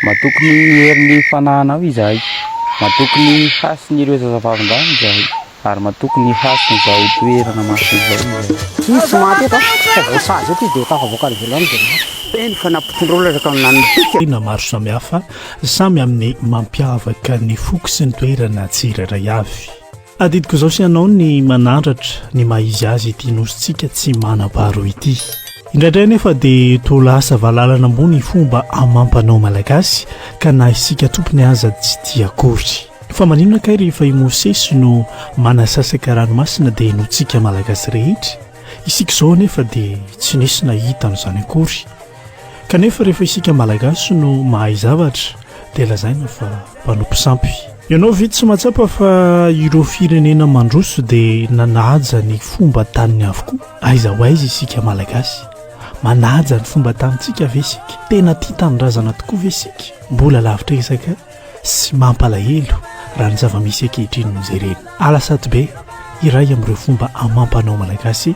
Matoky ny herin'ny fanahinao izahay, matoky ny hasin'ireo zazavavindrano izahay, ary matoky ny hasin'izao toerana masina izao izahay. Tsy nisy maty eto an, fa vao sazy eto izy dia tafavoaka any ivelany dia maty. Eny fa nampitondra olona ka nanipika. Tena maro samihafa, samy amin'ny mampiavaka ny foko sy ny toerana tsirairay avy. Adidiko izao sy ianao ny manandratra ny maha izy azy ity nosintsika tsy manam-paharoa ity. Indraindray anefa dia toa lasa valalana ambony fomba amam-panao malagasy ka na isika tompony aza tsy tia akory. Fa maninona kay rehefa i Mosesy no manasasaka ranomasina dia notsika malagasy rehetra? Isika izao anefa dia tsy nisy nahita an'izany akory. Kanefa rehefa isika Malagasy no mahay zavatra dia lazaina fa mpanompo sampy. Ianao ve tsy mahatsapa fa ireo firenena mandroso dia nanaja ny fomba taniny avokoa? Aiza ho aiza isika Malagasy? Manaja ny fomba tanintsika ve isika? Tena tia tanindrazana tokoa ve isika? Mbola lavitra ezaka sy mampalahelo raha ny zava-misy ankehitriny no jerena. Alasaty be iray amin'ireo fomba amam-panao malagasy.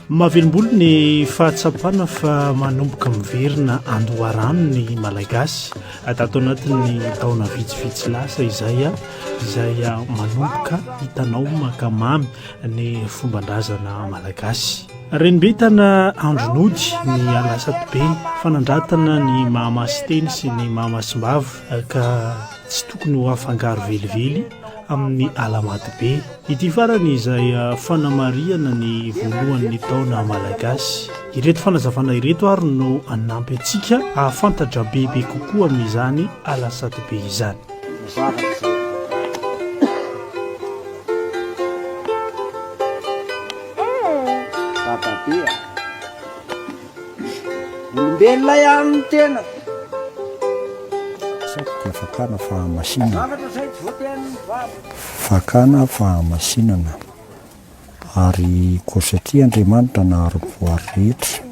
Mahavelombolo ny fahatsapana fa manomboka miverina andoharano ny Malagasy tato anatin'ny taona vitsivitsy lasa izay izay manomboka hitanao maka mamy ny fomban-drazana Malagasy. Renimbentana andro nody ny alasatybe fanandratana ny mahamasiteny sy ny mahamasim-bava ka tsy tokony ho afangaro velively amin'ny alamatybe. Ity farany izay fanamarihana ny voalohan'ny taona malagasy. Ireto fanazavana ireto ary no hanampy antsika hahafantatra bebe kokoa amin'izany alasadybe izany. Olombelona ihany ny tena. Satroka fakana fahamasinana. Fakana fahamasinana. Ary koa satria Andriamanitra nahary ny voary rehetra,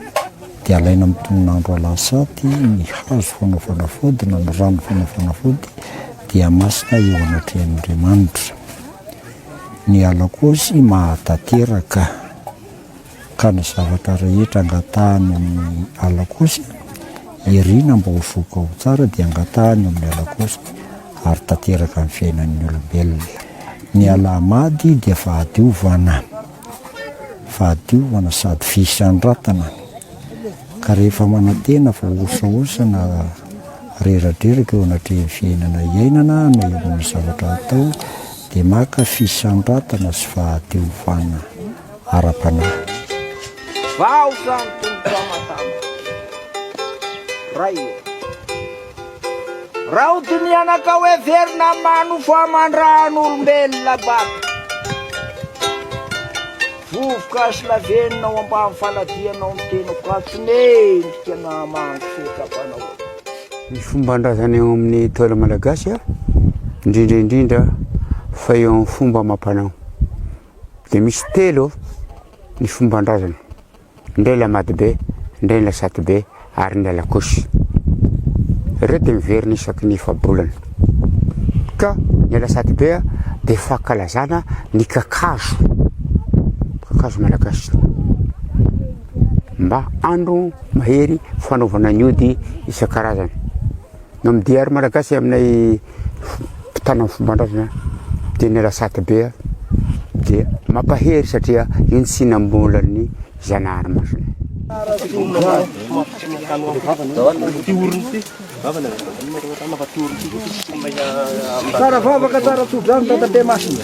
dia alaina amin'ny tonon'andro Alahasaty ny hazo fanaovana vody na ny rano fanaovana vody dia masina eo anatrehan'Andriamanitra. Ny Alakôsy maha-tanteraka. ka ny zavatra rehetra angatahany amin'ny Allah kosa, irina mba ho voky ao tsara dia angatahany amin'ny Allah kosa ary tanteraka ny fiainan'ny olombelona. Ny Allah Mady dia fahadiovana, fahadiovana sady fisandratana, ka rehefa manantena fa hosahosa na reradreraka eo anatrehan'ny fiainana iainana na eo amin'ny zavatra atao dia maka fisandratana sy fahadiovana. ara-panahy. Vahoka ny Tompo fa matama Ray ô. Raha hodinihana ka hoe verina amin'ny maha nofo aman-drahan'olombelona baka. Vovoka sy lavenona ao ambany faladianao ny tenako ka tsy mendrika ny hahamangy fiekam-panao aho. Ny fomban-drazana eo amin'ny Ntaolo Malagasy, indrindra indrindra fa eo amin'ny fomba amam-panao, Dia misy telo ny fomban-drazana, indray ilay Madibe, indray ilay Satibe ary ny Alakosy. Ireo dia miverina isaky ny efa-bolana. Ka ny ilay Satibe dia fankalazana ny kakazo, kakazo malagasy. Mba andro mahery fanaovana ny ody isan-karazany. Ny MDR Malagasy aminay mpitana ny fomban-drazana dia ny Alasaty be dia mampahery satria iny tsy nambolan'ny Zanahary masina. Tsara vavaka, tsara tsodrano, tata be masina.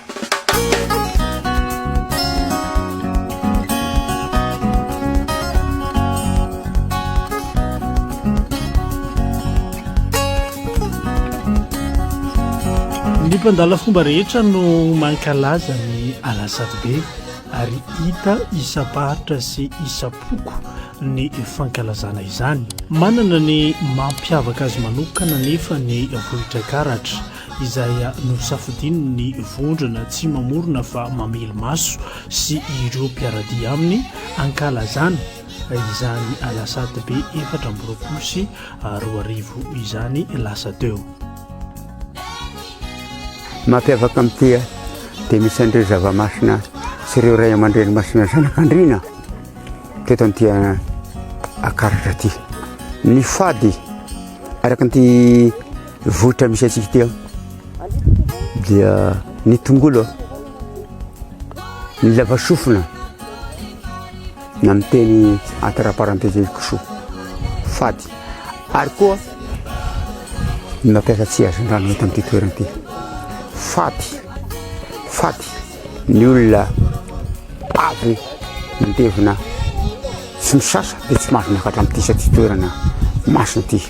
ny mpandala fomba rehetra no mankalaza ny alasadobe ary hita isam-paritra sy isam-poko ny fankalazana izany manana ny mampiavaka azy manokana nefa ny vohitra karatra izay nosafidiany ny vondrona tsy mamorona fa mamely maso sy ireo mpiara-dia aminy hankalazana izany alasatybe efatra amby roapolo sy roa arivo izany lasa teo. Mampiavaka amin'ity dia misy an'ireo zava-masina sy ireo ray aman-dreny masina zanak'andriana teto an'ity akaratra ity. Ny fady araka an'ity Vohitra misy antsika ity dia ny tongolo, ny lavasofina na ny teny entre parenthèses koso, faty. Ary koa ny mampiasa tsy azy rano eto amin'ity toerana ity. Faty, faty ny olona avy mandevina sy misasa dia tsy mahazo miakatra amin'ity satria toerana masina ity.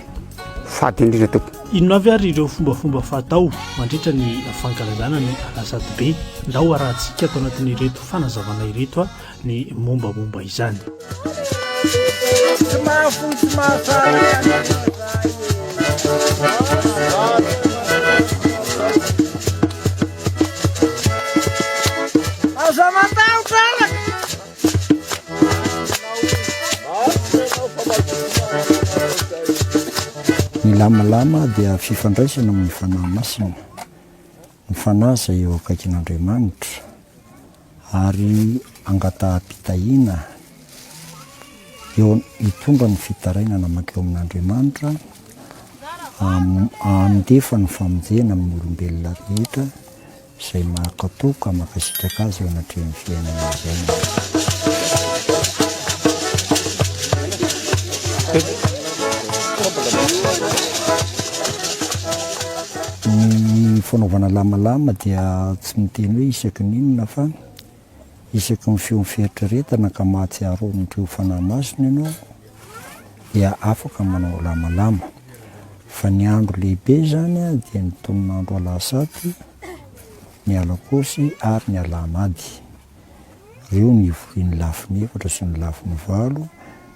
Fady indrindra tompoko. Inona avy ary ireo fombafomba fatao mandritra ny fankalazana ny Alazadobe? Ndao arahantsika ato anatin'ireto fanazavana ireto ny mombamomba izany. Ny lamalama dia fifandraisana amin'ny fanahy masina, ny fanahy izay eo akaikin'Andriamanitra ary angataham-pitahiana eo hitondra ny fitarainana mankeo amin'Andriamanitra handefa ny famonjena amin'ny olombelona rehetra, Izay mahakatò ka mankasitraka azy eo anatrehan'ny fiainana izay. Ny fanaovana lamalama dia tsy miteny hoe isaky ny inona fa. isaky ny feon'ny fieritreretana ka mahatsiaro ao amin'ireo fanahy masina ianao, dia afaka manao lamalama. Fa ny andro lehibe izany dia ny tonon'andro Alahasaty, ny Alakôsy ary ny Alahamady. Ireo no ivorian'ny lafiny efatra sy ny lafiny valo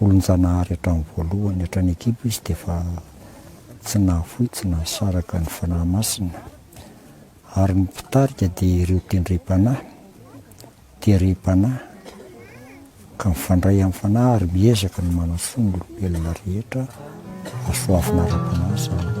Olon-Janahary hatramin'ny voalohany hatrany an-kibo izy dia efa tsy nahafoy, tsy nahasaraka ny Fanahy Masina. Ary ny mpitarika dia ireo tendrem-panahy, terem-panahy, ka mifandray amin'ny Fanahy ary miezaka ny manasoa ny olombelona rehetra hahasoavina ara-panahy izany.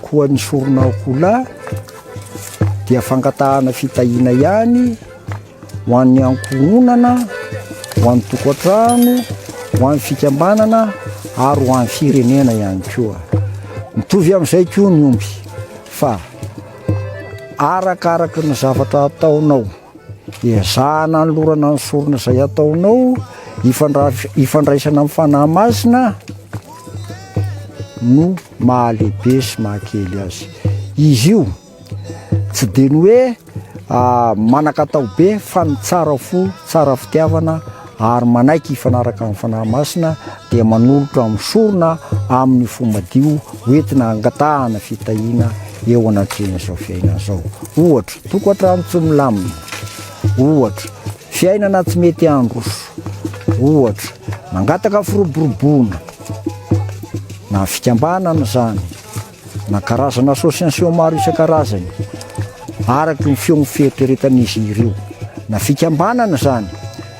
Koa ny sorona akoholahy dia fangatahana fitahiana ihany ho an'ny ankohonana, ho an'ny tokantrano, ho an'ny fikambanana ary ho an'ny firenena ihany koa. Mitovy amin'izay koa ny omby fa arakaraky ny zavatra ataonao, ezahana anolorana ny sorona izay ataonao, ifandraisana amin'ny fanahy masina no mahalehibe sy mahakely azy izy io tsy dia ny hoe manan-katao be fa ny tsara fo, tsara fitiavana ary manaiky hifanaraka amin'ny Fanahy Masina dia manolotra amin'ny sorona amin'ny fo madio hoentina hangatahana fitahiana eo anatrehan'izao fiainana izao. Ohatra, tokantrano tsy milamina, ohatra, Fiainana tsy mety handroso, ohatra, mangataka firoboroboana, na fikambanana izany, na karazana association maro isan-karazany, araka ny feon'ny fieritreretan'izy ireo, na fikambanana izany,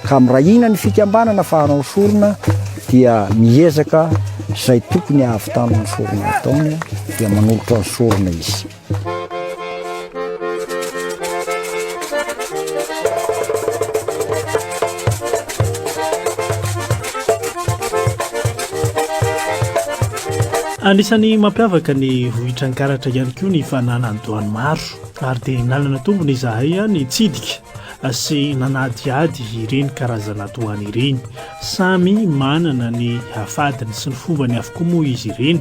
ka mirahina ny fikambanana fa hanao sorona dia miezaka izay tokony hahavitana ny sorona ataony dia manolotra ny sorona izy. anisan'ny mampiavaka ny vohitrankaratra ihany koa ny fananandoany maro ary dia nanana tombony izahay a ny tsidika sy nanadiady ireny karazana doany ireny samy manana ny hafadiny sy ny fombany avokoa moa izy ireny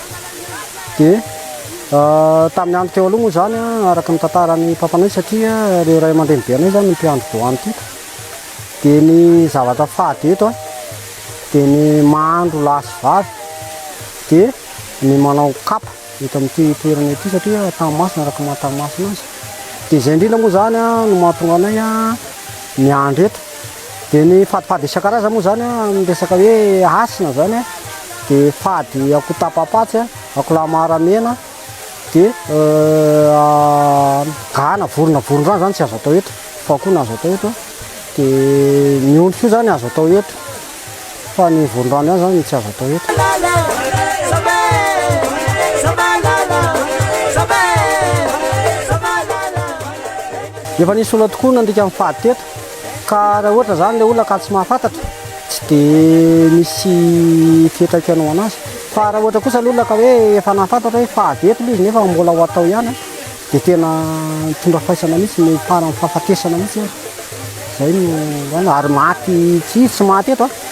Dia tamin'ny andro teo aloha moa izany araka ny tantaran'ny papanay satria ireo ray aman-dreny be anay izany no mpiandry doany teto. Dia ny zavatra fady eto dia ny mahandro lahy sy vavy dia ny manao kapa eto amin'ity toerana ity satria tany masina araka maha tany masina azy. Dia izay indrindra moa izany no mahatonga anay miandry eto. Dia ny fadifady isan-karazany moa izany amin'ny resaka hoe hasina izany dia fady akoho tapa-patsy, akoho lahy maramena, dia gana, vorona vorondrano izany tsy azo atao eto, fa akoho no azo atao eto. Dia ny ondry koa izany azo atao eto, fa ny vorondrano ihany izany no tsy azo atao eto. Efa nisy olona tokoa nandika ny fady teto. Ka raha ohatra zany le olona ka tsy mahafantatra tsy de misy fiantraikany ho anazy. Fa raha ohatra kosa le olona ka hoe efa nahafantatra hoe fahavety le izy nefa mbola ho atao ihany an, de tena mitondra faisana mihitsy no faran'ny fahafatesana mihitsy ary. Zay no, ary maty tsy izy tsy maty eto an.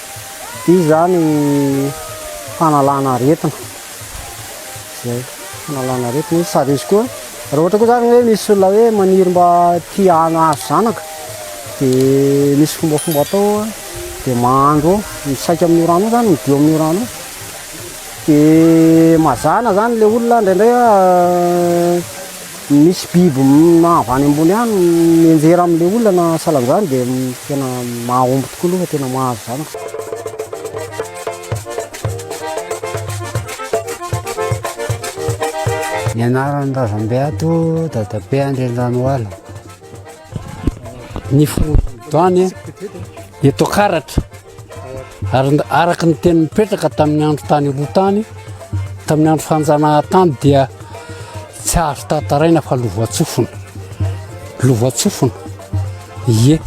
Dia izany fanalana aretina. Izay, fanalana aretina izy. Sady izy koa, raha ohatra koa izany hoe misy olona hoe maniry mba tia hahazo zanaka, dia misy fombafomba atao, dia mahandro ao, misaika amin'io rano io izany, midio amin'io rano io. Dia mazàna izany ilay olona indraindray Misy biby avy any ambony any mianjera amin'ilay olona na salanjany dia tena mahomby tokoa aloha fa tena mahazo zanaka. Ny anaran'ny razambe ato dadabe Andriandranoala. Ny fono doany dia tokaratra. Ary araka ny teny mipetraka tamin'ny andro tany aloha tany, tamin'ny andro fanjanahan-tany dia tsy azo tantaraina fa lovatsofina. Lovatsofina. Ie.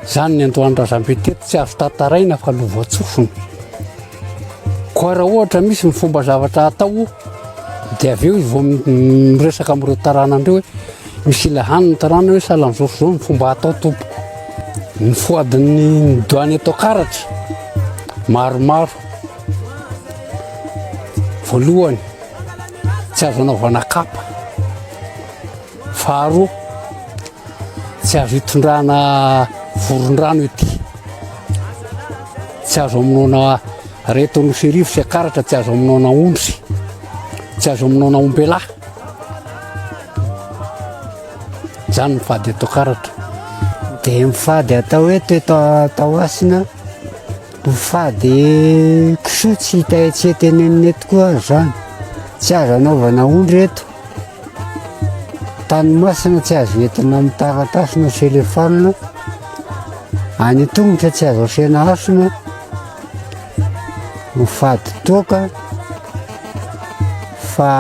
Izany ny androany razambe teto tsy azo tantaraina fa lovatsofina. Koa raha ohatra misy ny fomba zavatra atao dia avy eo izy vao miresaka amin'ireo taranany ireo hoe misy ilay hany ny taranany hoe sahala amin'izao sy izao ny fomba atao tompoko. Ny foadin'ny doany eto Karatra maromaro. Voalohany, tsy azo anaovana kapa. Faharoa, tsy azo itondrana vorondrano ity. Tsy azo amonoana reto nosy irivo sy akaratra, tsy azo amonoana ondry, tsy azo amonoana ombelahy. Zany ny fady eto akaratra. Dia mifady atao eto eto atao asina, mifady kisoa tsy hita etsy etenenina eto koa azo zany. Tsy azo anaovana ondry eto. Tany masina tsy azo entina amin'ny taratasy na telefaonina, any an-tongotra tsy azo asiana hasina, ho fady toaka, fa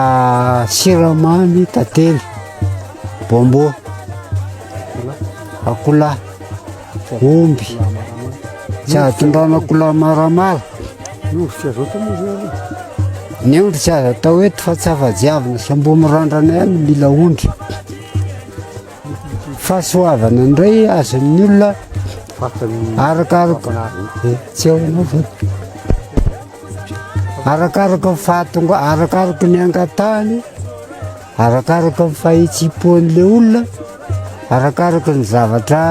siramamy, tantely, bonbon, akola. Omby. Tsy azo tondranako la maramara. Ny omby tsy azo atao moa zao aloha. Ny omby tsy azo atao eto fa tsy afa-jiavina sy ambomirandrana ihany ny mila ondry. Fahasoavana indray azon'ny olona arakaraka eh, tsy ao ianao fa arakaraka ny fahatonga arakaraka ny angatahany Arakaraka ny fahitsim-pon'ilay olona, arakaraka ny zavatra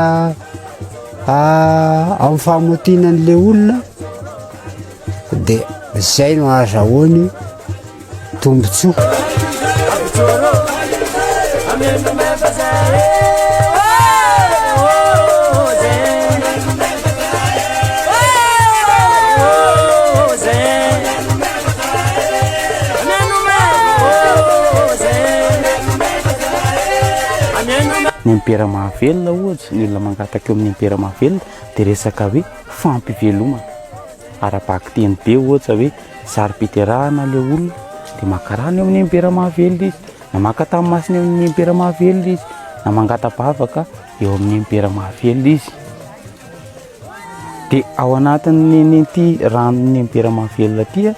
amin'ny fahamaotiana an'ilay olona dia izay no ahazahoany tombontsoa. ny impera mahavelona ohatra ny olona mangataka eo amin'ny impera mahavelona dia resaka hoe fampivelomana ara-baky teny be ohatra hoe saro-piterahana ilay olona dia maka rano eo amin'ny impera mahavelona izy na maka tany masina eo amin'ny impera mahavelona izy na mangata-bavaka eo amin'ny impera mahavelona izy Dia ao anatin'ity ranon'ny Empera mahavelona ity,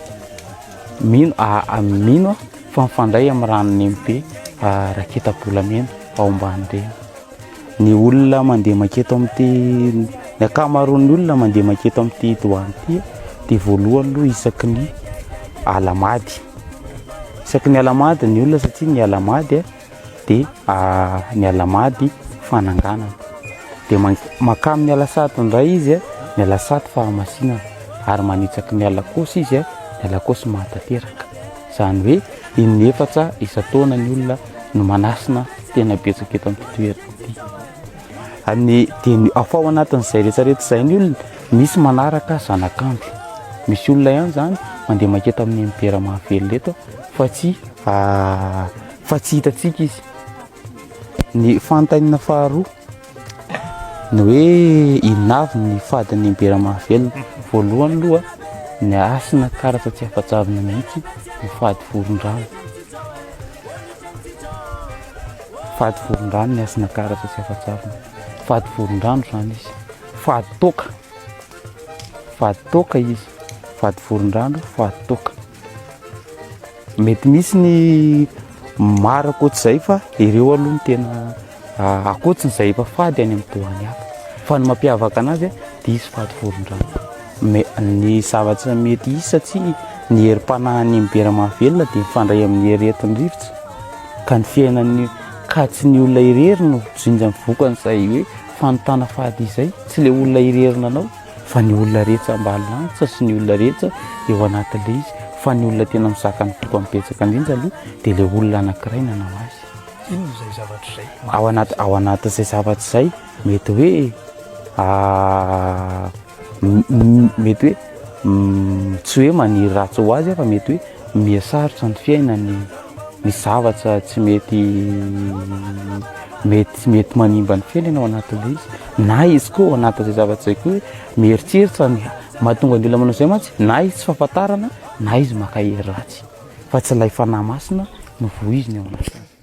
mino aho fa mifandray amin'ny ranon'ny Empe raketa-bolamena ao Ambanireny. Ny olona mandeha mankety amin'ity, ny ankamaroan'ny olona mandeha mankety amin'ity doany ity dia voalohany aloha isaky ny alamady, isaky ny alamady ny olona satria ny alamady a! dia ny alamady fananganana dia mankany amin'ny alasato indray izy ny alasato fahamasinana ary manitsaky ny alakosy izy ny alakosy mahatanteraka izany hoe in'ny efatra isan-taona ny olona no manasina tena betsaka eto amin'ny toerana ity amin'ny dia ny afa ao anatin'izay rehetrarehetra izay ny olona misy manaraka zanakandro misy olona ihany izany mandeha maketa amin'ny mpera mahavelona eto fa tsy ah, fa tsy hitantsika izy ny fantainina faharoa ny hoe inavy ny fadin'ny imbera mahavelona voalohany loha ny asina karatra tsy afa-javina mihitsy ny fady voron-drano fady voron-drano ny asina karatra tsy afa-javina fady voron-drano zany izy fady toaka fady toaka izy fady voron-drano fady toaka Mety misy ny maro ankoatr'izay fa ireo aloha ny tena ah, ankoatr'izay efa fady any amin'ny doany hafa. Fa ny mampiavaka anazy dia izy fady voron-drano. Me- Ny zavatra mety hisy satria ny herim-panahin'ny mibera mahavelona dia mifandray amin'ny hery entin'ny rivotra ka ny fiainan'ny ka tsy ny olona irery no jinjan'ny vokan'izay hoe fanontana fady izay, tsy ilay olona irery nanao. Fa ny olona rehetsa mba lantsa sy ny olona rehetsa eo anatin'ilay izy, fa ny olona tena mizaka ny foko amin'ny betsaka indrindra aloha dia ilay olona anankiray nanao azy. Inona izay zavatra izay? Ao anaty ao anatin'izay zavatra izay mety hoe mety hoe tsy hoe maniry ratsy ho azy aho fa mety hoe Mihasarotra ny fiainany, misy zavatra tsy mety mety tsy mety manimba ny fiainany ao anatin'ilay izy, na izy koa ao anatin'izay zavatra izay koa mieritreritra ny mahatonga ny olona manao izay mantsy, na izy tsy fahafantarana, na izy maka hery ratsy, fa tsy ilay fanahy masina no voiziny ao anatin'izany.